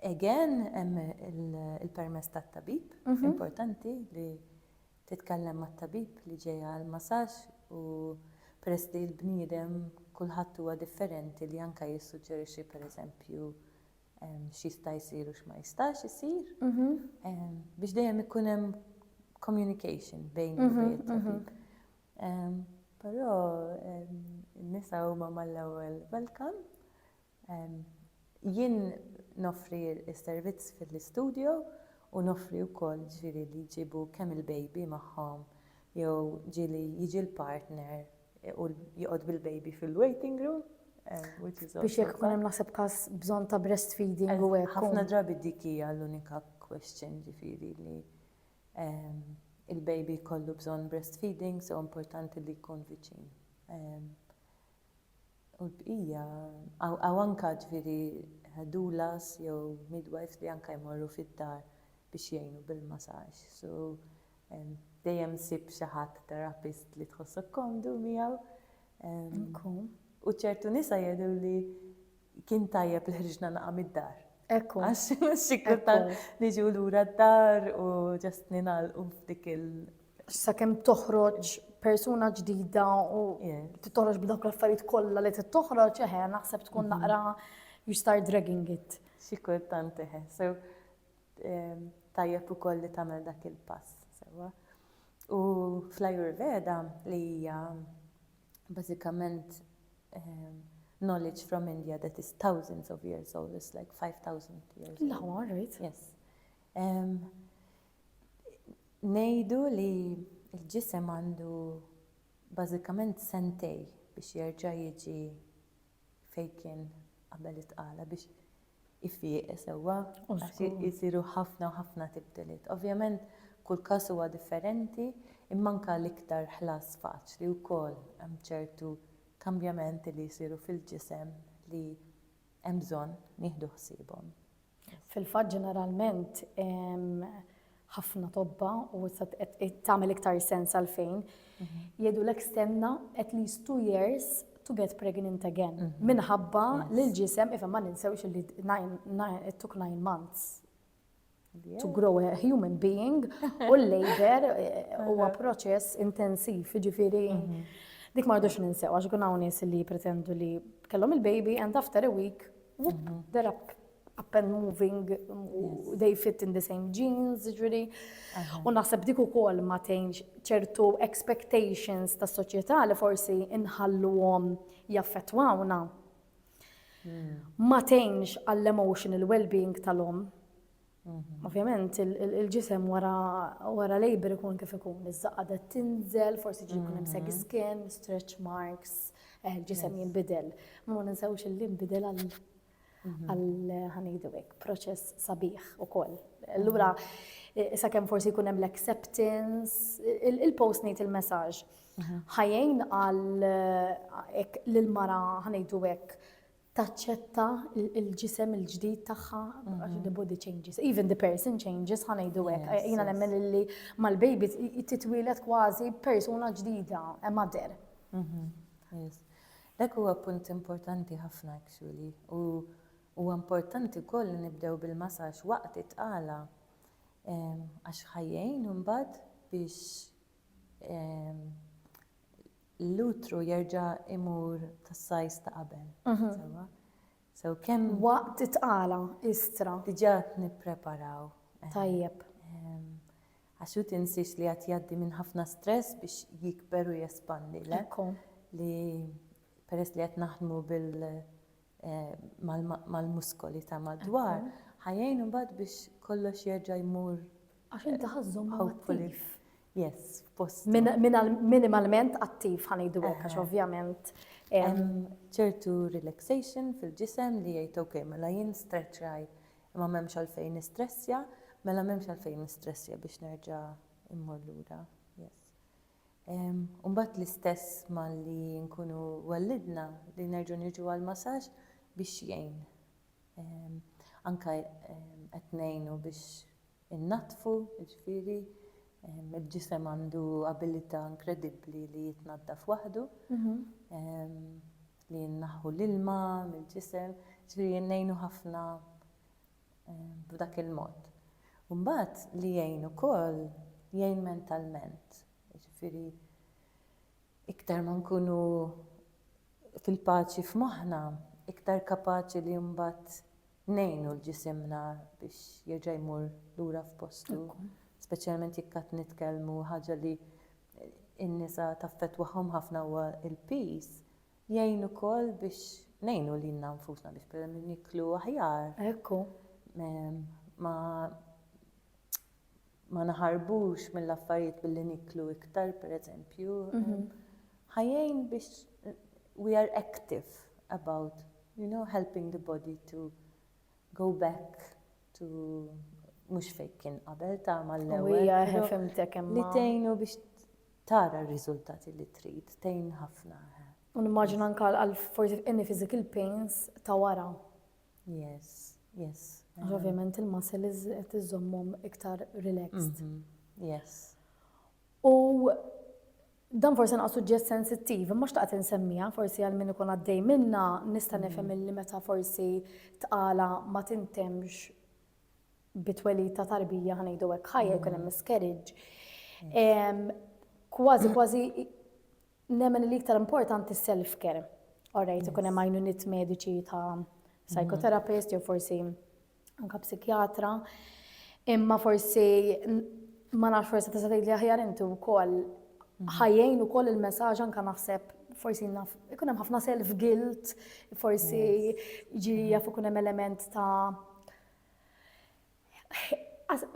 Again, hemm il-permess tat-tabib, importanti li titkellem mat-tabib li ġej għal masaġġ u peress li l-bniedem kulħadd huwa differenti li anke jissuġġerixxi pereżempju x'jista' jsir u x'ma jistax isir biex dejjem ikun hemm communication bejn it-tabib. Però n-nisa huma mal-ewwel welcome. Jien noffri s-servizz fil-istudio u noffri wkoll ġifieri li jġibu kemm il-baby magħhom jew ġieli jiġi l-partner u joqgħod bil-baby fil-waiting room which is also. Biex jekk ikun hemm naħseb każ bżonn ta' breastfeeding u hekk. Ħafna drabi dik hija l-unika question ġifieri li il-baby jkollu bżonn breastfeeding so importanti li jkun viċin. U l-bqija, għaw anka ġviri doulas jew midwives li anka jmorru fid-dar biex jgħinu bil-massage. So dejjem sib xi ħadd therapist li tħossok komdu miegħu. U ċertu nisa jgħidu li Kien tajjeb li ħriġna naqa' mid-dar. Ekku. Għax sikru ta' niġu lura d-dar u ġast ningħalqu f'dik il. Sakemm toħroġ persuna ġdida u titoħroġ b'dawk l-affarijiet kollha li trid toħroġ, eħe, naħseb tkun mhm. naqra you start dragging it. Xi kultant eħe. So ehm, tajjeb ukoll li tagħmel dak il-pass. U fl-Ayurveda li hija Bażikament, knowledge from India that is thousands of years old, it's like five thousand years old. L-aħwa, right? Yes. Ngħidu li l-ġisem għandu bażikament sentej biex jerġa' jiġi fejn kien qabel it-tqala biex ifieq sewwa għax isiru ħafna u ħafna tibdiliet. Ovvjament kull każ huwa differenti imma anke l-iktar ħlas faċli wkoll hemm ċertu kambjamenti li jsiru fil-ġisem li hemm bżonn nieħdu ħsiebhom. Fil-fatt ġeneralment ħafna tobba u issa qed tagħmel iktar sens għalfejn jgħidulek stenna at least two years to get pregnant again. Mhm. Minħabba li l-ġisem, ifem ma ninsewx li it took nine months to grow a human being u l-labor eh, huwa proċess intensiv, ġifiri. Mhm. Dik ma rridux ninsew, għax kun hawn nies li pretendu li kellhom il-baby and after a week They're up, up and moving, u they fit in the same jeans, ġviri. U naħseb dik ukoll ma tgħinx ċertu expectations tas soċjetà li forsi inħalluhom jaffettwawna. Ma tgħinx għall-emotional well-being tal-om. Ovvjament il-ġisem wara labor ikun kif ikun, iż-żaqqa da tinżel, forsi ġi jkun hemm seg mm-hmm. skin, stretch marks, eh, il-ġisem jinbidel. Ma ninsewx li jinbidel għal mm-hmm. għal ħanidu hekk proċess sabiħ ukoll. Allura mm-hmm. sakemm forsi jkun hemm l-acceptance, il-post ngħid il-messaġġ. Ħajjin għal eh, l-mara ħanidu hekk taċċetta l-ġisem il-ġdid tagħha għax the body changes, even the person changes, ħa ngħidu hekk. Yes, Jiena yes. nemmen illi mal-baby titwieled kważi persuna ġdida, a mother. Mhm, yes. Dak huwa punt importanti ħafna actually u huwa importanti wkoll li nibdew bil-masaġġ waqt it-tqala ehm, għax ħajjejn imbagħad biex ehm, l-utru jerġa' jmur tas-size ta' qabel. Sewwa? So kemm. Waqt it-tqala, istra. Diġà qed nippreparaw. Tajjeb. Għax hu tinsiex li qed jgħaddi minn ħafna stress biex jikber u jespandi, le? Ekku. Li peress li qed naħdmu bil mal-muskoli ta' madwar, ħa jgħin imbagħad biex kollox jerġa' jmur. Għax inti ħa żżommhom attiv. Yes, f'postu. Minimalment attiv ħa ngħidu hekk għax ovvjament. Hemm ċertu relaxation fil-ġisem li jgħid ok, mela jien stretch raj, imma m'hemmx għalfejn nistressja, mela m'hemmx għalfejn nistressja biex nerġa' immur lura. u mbagħad l-istess malli nkunu wellidna li nerġgħu niġu għall-massaġġ biex jgħin. Anke qed ngħinu biex innaddfu, jiġifieri il-ġisem għandu abilità inkredibbli li jitnaddaf waħdu, li nneħħu l-ilma mill-ġisem, jiġifieri ngħinu ħafna. b'dak il-mod. U mbagħad li jgħin ukoll, jgħin mentalment. Jiġifieri iktar ma nkunu fil-paċi f'moħħna, iktar kapaċi li mbagħad ngħinu l-ġisimna biex jerġa' jmur lura f'postu. Speċjalment jekk qed nitkellmu ħaġa li n-nisa taffettwahom ħafna huwa l-piż, Jgħin ukoll biex ngħinu lilna nfusna biex pereżempju niklu aħjar. Hekk hu. Ma ma naħarbux mill-affarijiet billi niklu iktar pereżempju. Ħa jgħin biex we are active about you know helping the body to go back Tu mhux fejn kien qabel ta' mal-ewwel. Hija ħefimtek imma. Li tgħinu biex tara r-riżultati li trid, tgħin ħafna. Nimmaġina anka għal forsi any physical pains ta' wara. Yes, yes. Ovvjament il-muscles qed iżommhom iktar relaxed. Mhm, yes. U Dan forsi naqas suġġett sensittiv, imma xtaqt insemmiha forsi għal min ikun għaddej minna nista' mm. nifhem illi meta forsi tqala ma tintemx bitwelid ta' tarbija ħanejdu hekk ħajja jkun hemm mm. miscarriage. Mm. Kważi kważi nemmen li iktar importanti self-care. Orrejt ikun hemm għajnuniet mediċi ta' psychotherapist jew forsi anke psikjatra, imma forsi ma nafx forsi tista' tgħidli aħjar inti wkoll mhm. ħajjejn ukoll il-messaġġ anke naħseb forsi naf ikun hemm ħafna self guilt, forsi ġiri mhm. jaf ikun hemm element ta'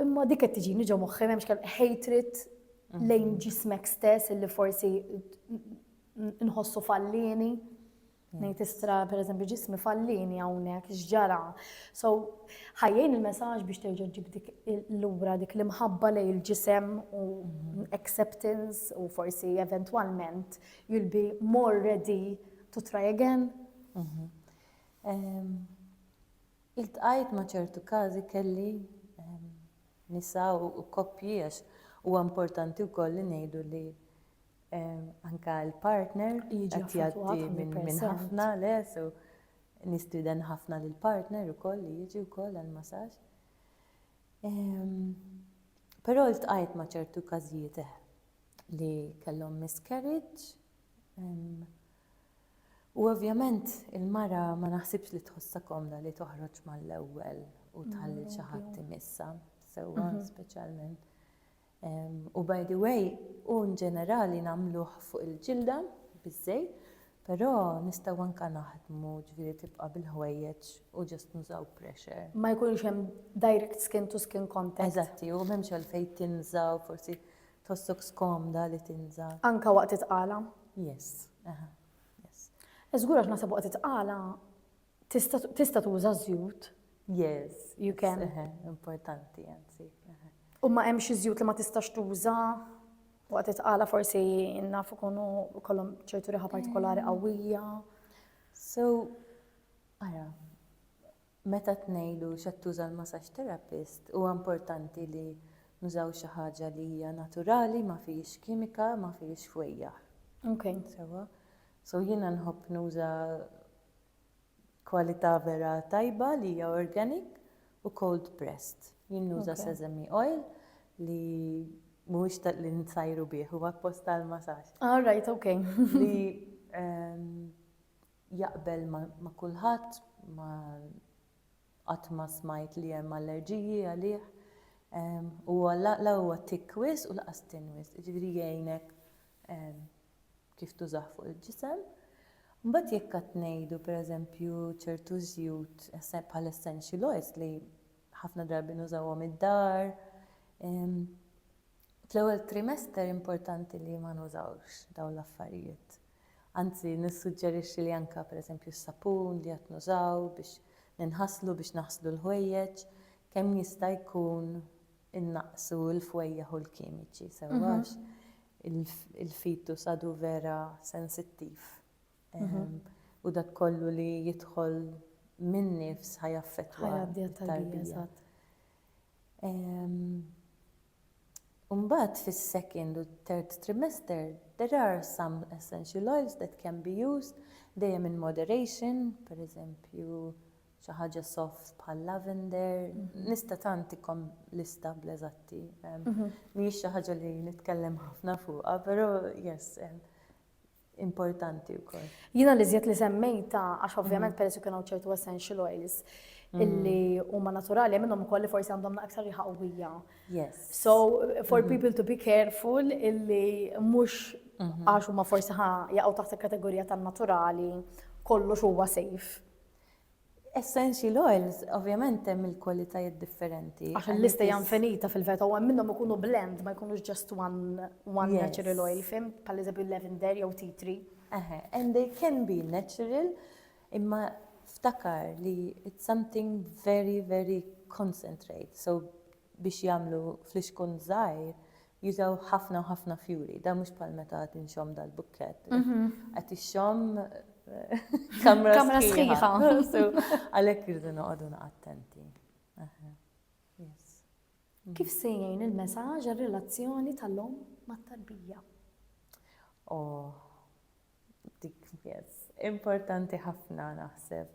imma dik qed tiġini ġo moħħi m'hemmx kemm hatred mhm. lejn ġismek stess illi forsi nħossu fallini. Nejt istra, per eżempju, ġismi fallini għawnek, xġara. So, ħajjajn il-messagġ biex terġa ġib dik l-lura, dik l-imħabba lej il-ġisem u mhm. acceptance u forsi eventualment you'll be more ready to try again. Mhm. Il-tqajt ma ċertu kazi kelli nisa u koppji għax u importanti u koll li nejdu li anka l-partner qed jgħaddi minn ħafna le so nistieden ħafna lil partner ukoll li jiġi wkoll għal masaġġ. Però ltqajt ma' ċertu każijiet eh, li kellhom miscarriage. U ovvjament il-mara ma naħsibx li tħossha komda li toħroġ mal-ewwel u tħalli xi ħadd imissa sewwa mhm. speċjalment. U by the way, hu nġenerali nagħmluh fuq il-ġilda biż-żej, però nistgħu anke naħdmu ġifieri tibqa' bil-ħwejjeġ u just nużaw pressure. Ma jkunx hemm direct skin to skin contact. Eżatti, u m'hemmx għalfejn tinża' u forsi tħossok skomda li tinża'. Anke waqt it-tqala? Yes, aha, yes. Żgur għax naħseb waqt it-tqala Tista' tista' tuża żjut? Yes. You can. Eħe, importanti anzi. eħe. U ma hemm xi żjut li ma tistax tuża waqt it-tqala forsi naf ikunu kollhom ċertu riħa partikolari qawwija. So, ara, meta tnejlu x'qed tuża l-massage therapist, huwa importanti li nużaw xi ħaġa li hija naturali, ma fihiex kimika, ma fihiex fwejjaħ. Okay. Sewa. So jiena nħobb nuża Kwalità vera tajba li hija organic u cold pressed. Jien nuża sesame oil li mhuwiex ta' li nsajru bih, huwa apposta għall-masaġġ. All right, ok. Li jaqbel ma' kulħadd, ma qatt ma smajt li hemm allerġiji għalih. Huwa la huwa thick wisq u lanqas thin wisq, jiġifieri jgħinek kif tużah fuq il-ġisem. Mbagħad jekk għad ngħidu pereżempju ċertu żjut bħal essential oils li ħafna drabi nużawhom id-dar, fl-ewwel trimester importanti li ma nużawx dawn l-affarijiet. Anzi nissuġġerixxi li anke pereżempju s-sapun li għad nużaw biex ninħaslu, biex naħslu l-ħwejjeġ, kemm jista' jkun innaqqsu l-fwejjaħ u l-kimiċi sewwa għax il-fetus għadu vera sensittiv u dak kollu li jidħol min-nifs ħa jaffettwa t-tarbija. U mbagħad fis-second u third trimester there are some essential oils that can be used dejjem in moderation, pereżempju xi ħaġa soft bħal lavender, nista' tant ikom lista bl-eżatti, mhijiex xi ħaġa li nitkellem ħafna fuqha, però yes, importanti wkoll. Jiena l-iżjed li semmejtha għax ovvjament peress li kien hawn ċertu essential oils illi huma naturali hemm minnhom ukoll li forsi għandhom aktar riħa qawwija. Yes. So for people to be careful illi mhux għax huma forsi ħa jaqgħu taħt il-kategorija tan-naturali kollox huwa safe. Essential oils, ovvjament hemm il-kwalitajiet differenti. Għax il-lista hija infinita fil-veta u hemm minnhom ikunu blend ma jkunux just one, one yes. natural oil, fim, pal eżempju lavender jew tea tree. Aha, and they can be natural, imma ftakar li it's something very, very concentrate. So biex jagħmlu flixkun żgħir jużaw ħafna u ħafna fjuri. Dan mhux bħal meta qed inxomm dal-bukkett. Qed ixxomm kamra sħiħa. Għalhekk irridu noqogħdu attenti. Kif se jgħin il-messaġġ għar-relazzjoni tal-lum mat-tarbija? Oh, dik yes. Importanti ħafna naħseb.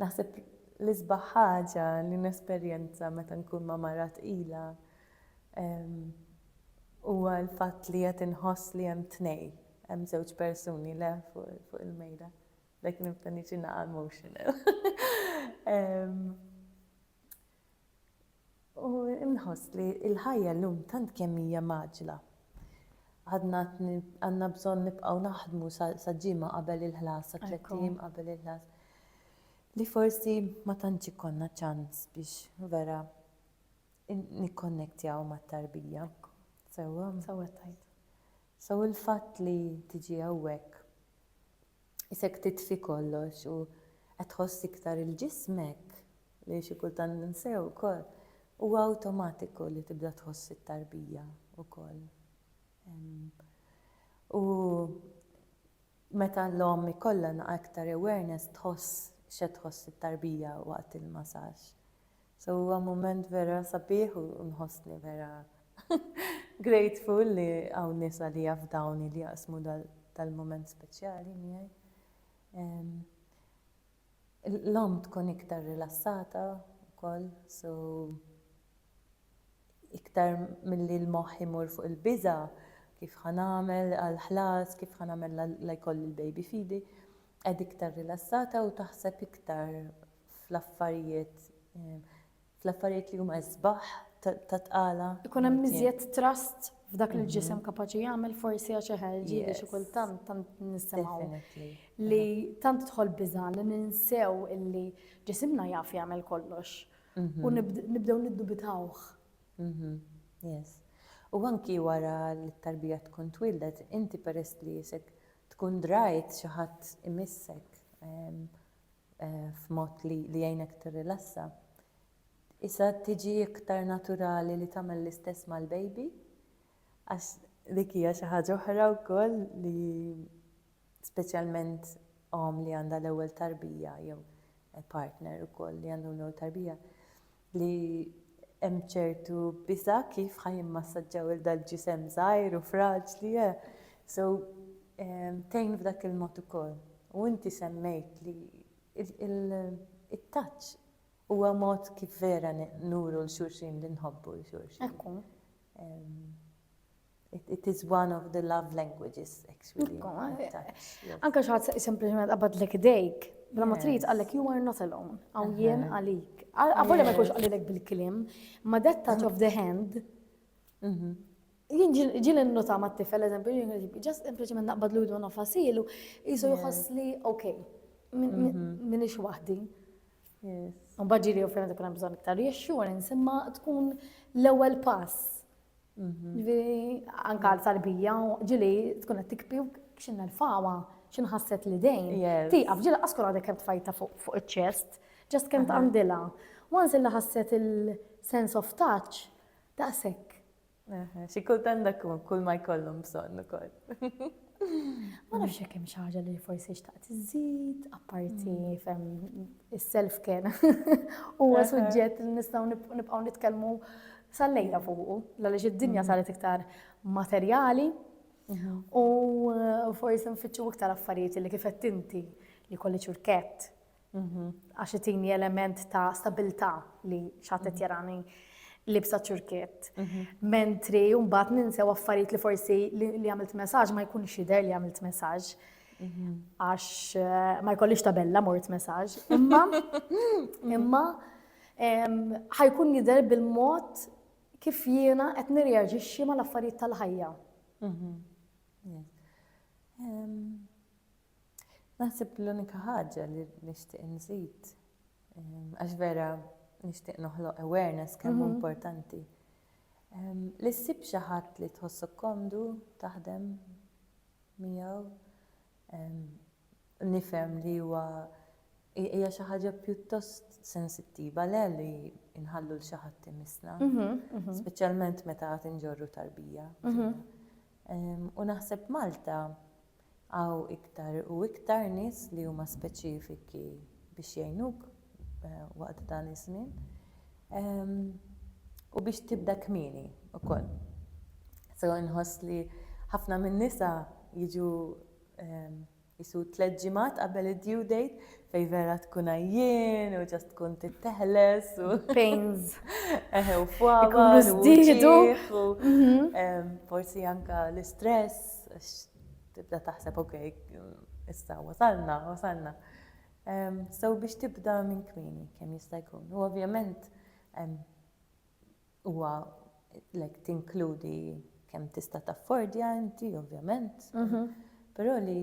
Naħseb l-isbaħ ħaġa li nesperjenza meta nkun ma' mara tqila huwa l-fatt li qed inħoss li hemm tnejn, hemm żewġ persuni le fuq il-mejda. Like nibda niġi naqa' emotional. U nħoss li l-ħajja llum tant kemm hija mgħaġġla. Għadna għandna bżonn nibqgħu naħdmu sal-ġimgħa qabel il-ħlas, sa tliet ijiem qabel il-ħlas, li forsi ma tantx ikollna ċans biex vera nikkonnektjaw mat-tarbija sewwa. Sewwa tgħid. So il-fatt li tiġi hawnhekk Isek titfi kollox u qed tħoss iktar il ġismek, li xi kultant ninsew ukoll, huwa awtomatiku li tibda tħoss it-tarbija wkoll. U meta l-omm ikollha iktar awareness tħoss x'qed tħoss it-tarbija waqt il-masaġġ. So huwa mument vera sabiħ u nħossni vera grateful li hawn nies għalija f'dawni li jaqsmu dal-mument speċjali miegħi. L-omm tkun iktar rilassata wkoll, so iktar milli l-moħħ imur fuq il-biża' kif ħa nagħmel għall-ħlas, kif ħa nagħmel la jkolli l-baby fidi, Qed iktar rilassata u taħseb iktar fl-affarijiet fl-affarijiet li huma isbaħ ta' tqala. Ikun hemm iżjed trust f'dak li l-ġisem kapaċi jagħmel forsi għax eħe ġieli xi kultant tant nisimgħu li tant tidħol biża' li ninsew illi ġisimna jaf jagħmel kollox u nibdew niddubitawh. Yes. U anki wara li t-tarbija tkun twieldet, inti peress li jisek tkun drajt xi ħadd imissek f'mod li jgħinek tirrilassa, isha tiġi iktar naturali li tagħmel l-istess mal-baby għax dik hija xi ħaġa oħra wkoll li speċjalment omm li għandha l-ewwel tarbija jew partner ukoll li għandu l-ewwel tarbija, li hemm ċertu biża' kif ħa jimmassaġġaw il dal-ġisem żgħir u fraġli, eh? So, tgħin f'dak il-mod ukoll. U inti semmejt li it-touch huwa mod kif vera nuru 'l xulxin li nħobbu 'l xulxin. Ekku. It is one of the love languages, actually. Anka xaħat sempliciment qabadlek dejk, bla ma trid għallek you are not alone, għaw jien għalik. Għavolja ma jkunx għallilek bil-klim, ma that touch of the hand, mhm. jien ġil nota ma t-tifel, eżempju, just sempliciment naqbad l-udu għana fasilu, jisu jħoss li, ok, minix mhm. wahdi. Mbagħad ġieli u fejn ikun hemm bżonn iktar reassurance, imma tkun l-ewwel pass Anka l-sarbija, ġili tkun qed tikpi x'in nerfawa, x'in ħasset li dejn. Tieqaf ġili askura għadek kemm tfajta fuq iċ-ċest, ġast kemm tqandilha. Once li ħasset il-sense of touch, daqshekk. Xi kultant dak kull ma jkollhom bżonn ukoll. Ma nafx jekk hemm xi ħaġa li forsi xtaqt iżid, apparti mm. fem is-self kien huwa suġġett li nistgħu nibqgħu nitkellmu sal-lejla fuqu, għaliex id-dinja mm. saret iktar materjali mhm. u eh, forsi nfittxu iktar affarijiet li kif qed inti li kolli ċurkett Għax itini element ta' stabilità li xatet jarani libsa ċurkiet. Mhm. Mentri jumbat ninsew affarijiet li forsi li għamilt messaġ ma jkun xider li għamilt messaġ. Mhm. Għax eh, ma jkollix tabella mort messaġ. Imma, imma, ħajkun jider bil-mod kif jiena qed nirreaġixxi mal-affarijiet tal-ħajja. Mhm. Naħseb l-unika ħaġa li nixtieq inżid, għax vera nixtieq noħloq awareness kemm mhm. importanti. Li ssib xi ħadd li tħossok komdu taħdem miegħu nifhem li huwa hija xi ħaġa pjuttost sensittiva le li nħallu l xi ħadd imisna, mhm, mhm. speċjalment meta għad inġorru tarbija. Mhm. U naħseb Malta Hawn iktar u iktar nies li huma speċifiki biex jgħinuk waqt dan iż-żmien u biex tibda kmieni wkoll. So inħoss li ħafna min-nisa jiġu jisu tliet ġimgħat qabel id-due date fej vera tkun għajjien u ġast tkun titteħles u pains. Eħe u fwawa. Zdidu. Mhm. Forsi anka l-istress Għax tibda taħseb ok, issa wasalna, wasalna. So biex tibda minn kmieni kemm jista' jkun. U ovvjament huwa lek tinkludi kemm tista' taffordja inti ovvjament. Mhm. Però li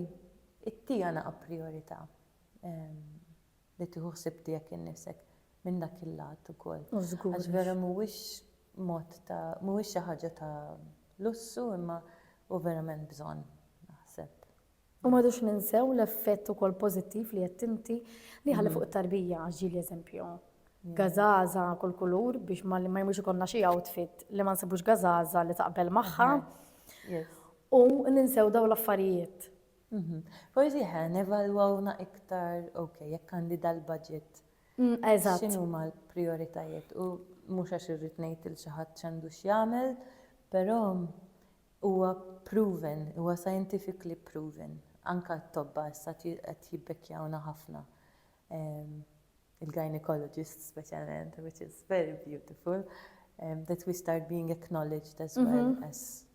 it-tiegħna a priorità. li tieħu ħsieb tiegħek innifsek minn dak il-lat ukoll. Oh żgur. Għax vera mhuwiex mod ta' mhuwiex xi ħaġa ta' lussu imma hu verament bżonn naħseb. U m'għadux ninsew l-effett ukoll pożittiv li għedt inti li jħalli fuq it-tarbija għax ġieli eżempju gazaza kull kulur biex ma jmux ikollna xi outfit li ma nsibux gazaza li taqbel magħha. U ninsew daw l-affarijiet. Forsi ħa nevalwawna iktar, ok, jekk għandi dal-budget, x'inhuma l-prijoritajiet u mhux għax irrid ngħid lil xi ħadd x'għandu x'jagħmel, però huwa proven, huwa scientifically proven, anke t-tobba issa qed jibbekkjawna ħafna, il-gynecologists speċjalment, which is very beautiful, that we start being acknowledged as well as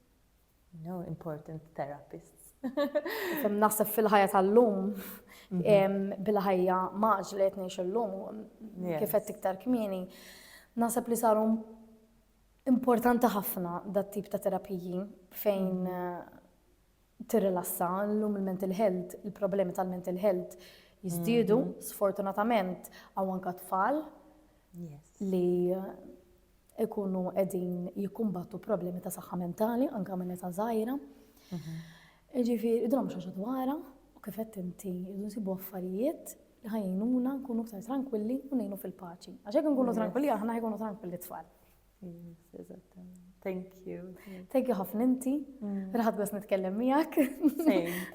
No important therapists. Kem naħseb fil-ħajja tal-lum, mhm. bil-ħajja maġ li qed ngħix illum, kif qed iktar kmieni, naħseb li saru importanti ħafna dat tip ta' terapiji fejn mhm. eh, tirrilassa l-lum il-mental health, il-problemi tal-mental health jizdidu, mhm. sfortunatament, għaw anka tfal li eh, ikunu qegħdin jikkumbattu problemi ta' saħħa mentali anke minn età żgħira. Mhm. Ġifieri idhom mhux ħaġa dwarha u kif qed inti jridu nsibu affarijiet li ħajnuna nkunu aktar tranquilli u ngħinu fil-paċi. Għax hekk nkunu tranquilli aħna jkunu tranquilli tfal. Thank you. Thank you ħafna inti. Mm. Raħat bas nitkellem miegħek.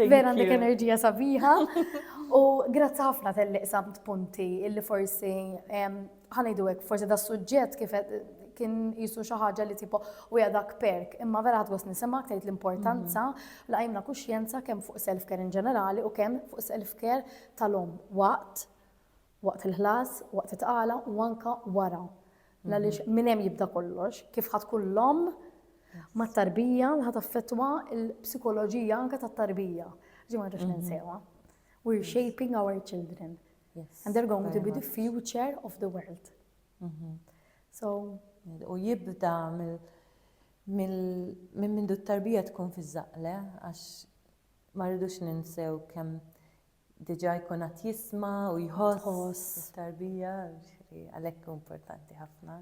Vera għandek enerġija sabiħa. U grazzi ħafna tal-li qsamt punti illi forsi ħa ngħidu hekk, forsi da suġġett kif kien jisu xi ħaġa li tipo u dak perk, imma vera ħadgos nisimgħek tgħid l-importanza mhm. la jimna kuxjenza kemm fuq self-care in ġenerali u kemm fuq self-care tal-om waqt waqt il-ħlas, waqt it-tqala u anka wara. La li mhm. minn hemm jibda kollox, kif ħad kullom ma tarbija li ħad affettwa l-psikoloġija anka tat-tarbija. Ġimgħa ġax mhm. ninsewa. We're shaping our children. Yes. And they're going to be the future of the world. Mm -hmm. So. U jibda minn minn tarbija tkun fi zaqle, għax ma rridux ninsew kemm diġa jkun għat jisma u jħoss tarbija, għalhekk importanti ħafna.